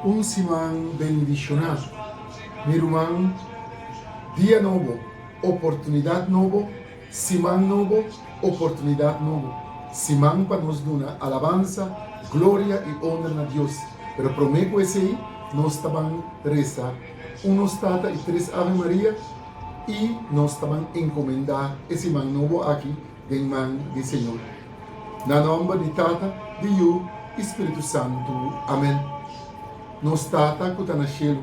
Un siman bendishoná mi ruman. Dia nobo, oportunidat nobo Siman nobo, oportunidat nobo. Siman pa nos duna alabansa, gloria i onra na Dios. Pero prome ku esei nos ta ban resa unos tata i tres Ave Maria i nos ta ban enkomendá e siman nobo aki den man di Señor. Na nòmber di Tata, di Yu i Spiritu Santu. Amen. Nos Tata ku ta na shelu.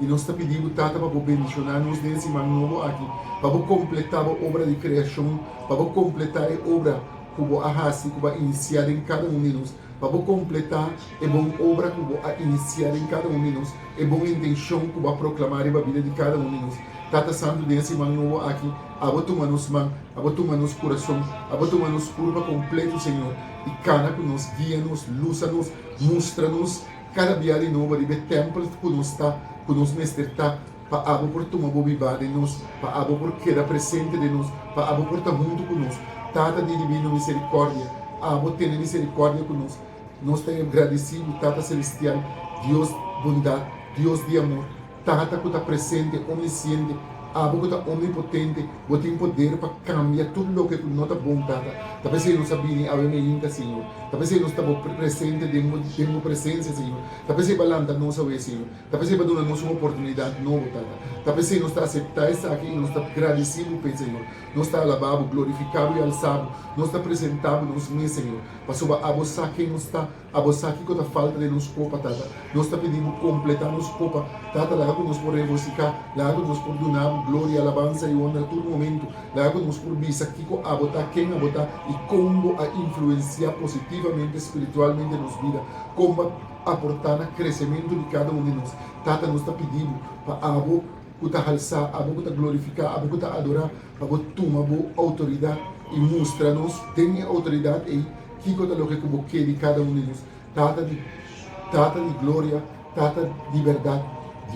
I nos ta pidi bo, Tata, pa bo bendishoná nos den e siman nobo aki, pa bo kompletá bo obra di kreashon, pa bo kompletá e obra ku bo a hasi, ku bo a inisiá den kada un di nos, pa bo kompletá e bon obra ku bo a inisiá den kada un di nos, e bon intenshon ku bo a proklamá riba bida di kada un di nos. Tata santu, den e siman nobo aki, abo tuma nos man, abo tuma nos kurason, abo tuma nos kurpa kompletu, Señor, i kana ku nos, guia nos, lusa nos, mustra nos, Kada bia di nobo riba e tèmpel ku nos ta, ku nos mester ta, pa Abo por tuma Bo bibá den nos, pa Abo por keda presente den nos, pa Abo por ta huntu ku nos. Tata di Dibino Miserikòrdia, Abo tene miserikòrdia ku nos. Nos ta Yo gradisidu, Tata Selestial, Dios Bondat, Dios di Amor. Tata ku ta presente, omnisiente, Abo ku ta omnipotente, Bo tin poder pa kambia tur loke ku no ta bon, Tata. Ta p'esei nos a bini awe na e hinka, Señor. Ta p'esei nos ta bo presente den Bo, den Bo presensia, Señor. Ta p'esei Bo a lanta nos awe, Señor. Ta p'esei Bo a duna nos un oportunidat nobo, Tata. Ta p'esei nos ta aseptá esaki i nos ta gradesí Bo p'e, Señor. Nos ta alabá Bo, glorifiká Bo i alsá Bo. Nos ta presentá Bo nos mes, Señor, pasobra abo sa ken nos ta. A bo sa kico ta falta den nos copa, Tata. Nos ta pidi Bo completa nos copa, Tata. Laga cu nos por regocica. Laga cu nos por duna Bo gloria, alabansa y honra tur momento. Laga cu nos por bisa kico Abo ta, ken Abo ta y con Bo a influencia positivamente spiritualmente nos bida, con Bo a aporta na crecemento di cada un di nos. Tata, nos ta pidi Bo pa Abo. ku ta halsá, abo ku ta glorifiká, abo ku ta adorá, pa bo tuma bo outoridat i mustra nos den e outoridat ei kiko ta loke ku bo ke di kada un di nos, Tata di Tata di gloria, Tata di bèrdat,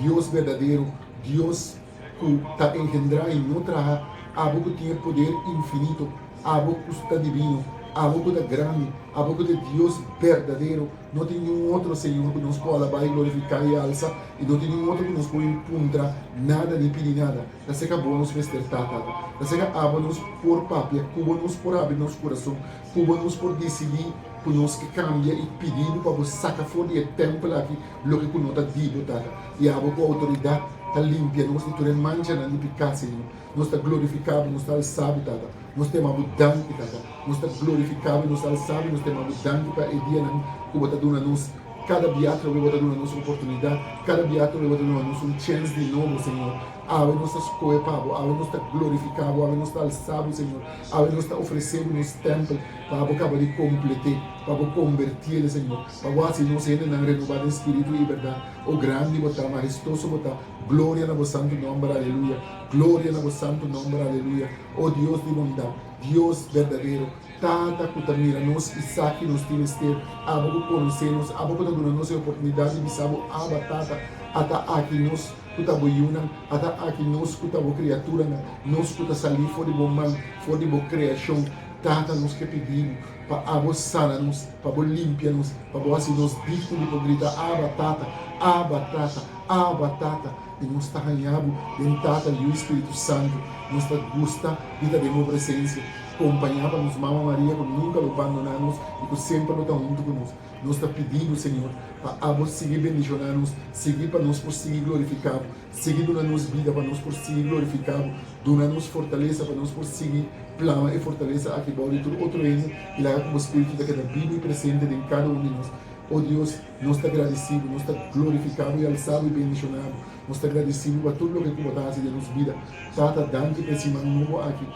Dios berdadero, Dios ku ta enhendrá i no traha, abo ku tin e poder infinito, abo ku ta divino, abo ku ta grandi, abo ku ta e Dios berdadero. No tin niun otro Señor cu nos por alabá y glorificá y alza, y no tin niun otro cu nos por bin puntra nada ni pidi nada. Taseca bo nos mester ta, Tata. Taseca abo nos por papia cu bo, nos por habri nos curason cu bo, nos por dicidi cu nos ke cambia y pidi bo pa bo saca for di e tempel aki loke cu no ta di bo, Tata. Y abo cu autoridad ta limpia nos di tur e manchanan di pecá, Señor. Nos ta glorifikáBu, nos ta alsáBu, Tata. Nos ta imáBu danki, Tata. Nos ta glorifikáBu, nos ta alsáBu, nos ta imáBu danki pa e dianan ku Bo ta duna nos. Kada bia atrobe Bo ta duna nos un oportunidat, kada bia atrobe Bo ta duna nos un chèns di nobo, Señor. Awe nos ta skohe pa Bo, awe nos ta glorifikáBu, awe nos ta alsáBu, Señor. Awe nos ta ofreséBu nos tèmpel pa Bo kaba di komplet'é, pa Bo kombertié, Señor, pa Bo hasi nos hendenan renobá den spiritu i bèrdat. O grandi Bo ta, mahestoso Bo ta. Gloria na bo santu nomber aleluya Gloria na bo santu nomber aleluya O Dios di bondad Dios berdadero Tata cu ta mira nos Isaki nos tin mester Abo cu conoce nos Abo cu ta duna nos e oportunidad di bisa bo Aba Tata Ata aki nos cu ta bo yunan Ata aki nos cu ta bo criaturanan Nos cu ta sali for di bo man For di bo creacion Tata nos ke pidi bo Pa abo sana nos Pa bo limpia nos Pa bo haci nos digno di por grita Aba Tata Aba Tata. Abba, Tata, i nos ta hañá Bo den Tata, Liu i Spiritu Santu. Nos ta gusta di ta den Bo presensia, kompañá pa nos Mama Maria ku nunka lo bandoná nos i ku semper lo ta huntu ku nos. Nos ta pidi Bo, Señor, pa Abo sigui bendishoná nos, sigui pa nos por sigui glorifiká Bo, sigui duna nos bida pa nos por sigui glorifiká Bo, duna nos fortalesa pa nos por sigui plama e fortalesa aki bou di tur otro hende i laga ku Bo Spiritu ta keda bibu i presente den kada un di nos. O Dios, Nos ta gradisibu, nos ta glorifikábu i alsábu i bendishonábu. Nos ta gradisibu pa tur loke ku bo ta hasi den nos bida. Tata, danki pa e siman nobo aki.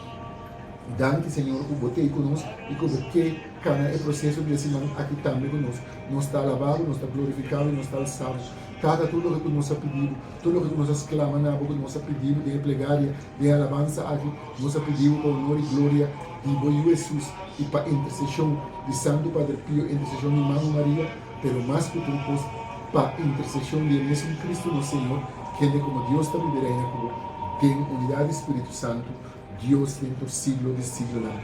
Danki, Señor, ku bo t'ei ku nos i ku bo ke kana e proseso di e siman aki tambe ku nos. Nos ta alabá bo, nos ta glorifiká bo i nos ta alsá bo. Tata, tur loke ku nos a pidi bo, tur loke ku nos a sklama na bo ku nos a pidi bo den e plegaria, E alabansa aki nos a pidiu pa onor i gloria di bo Yu Hesus i pa intersesion di Santu Padre Pio, intersesion di Mami Maria, pero mas ku tur kos pa intersesion di e mesun Kristu nos Señor, kende komo Dios ta bibi reina ku bo den unidat di Spiritu Santu, Dios den tur siglo di siglonan.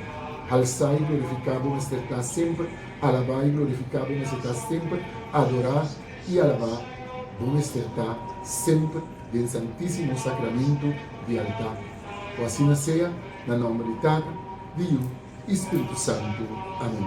Halsa i glorifiká bo mester ta semper, alabá i glorifiká bo mester ta semper, adorá i alabá bo mester ta semper. den Santísimo Sacramento di altar. Cu asina sea, na nomber di Tata, di Yu y Spiritu Santo. Amen.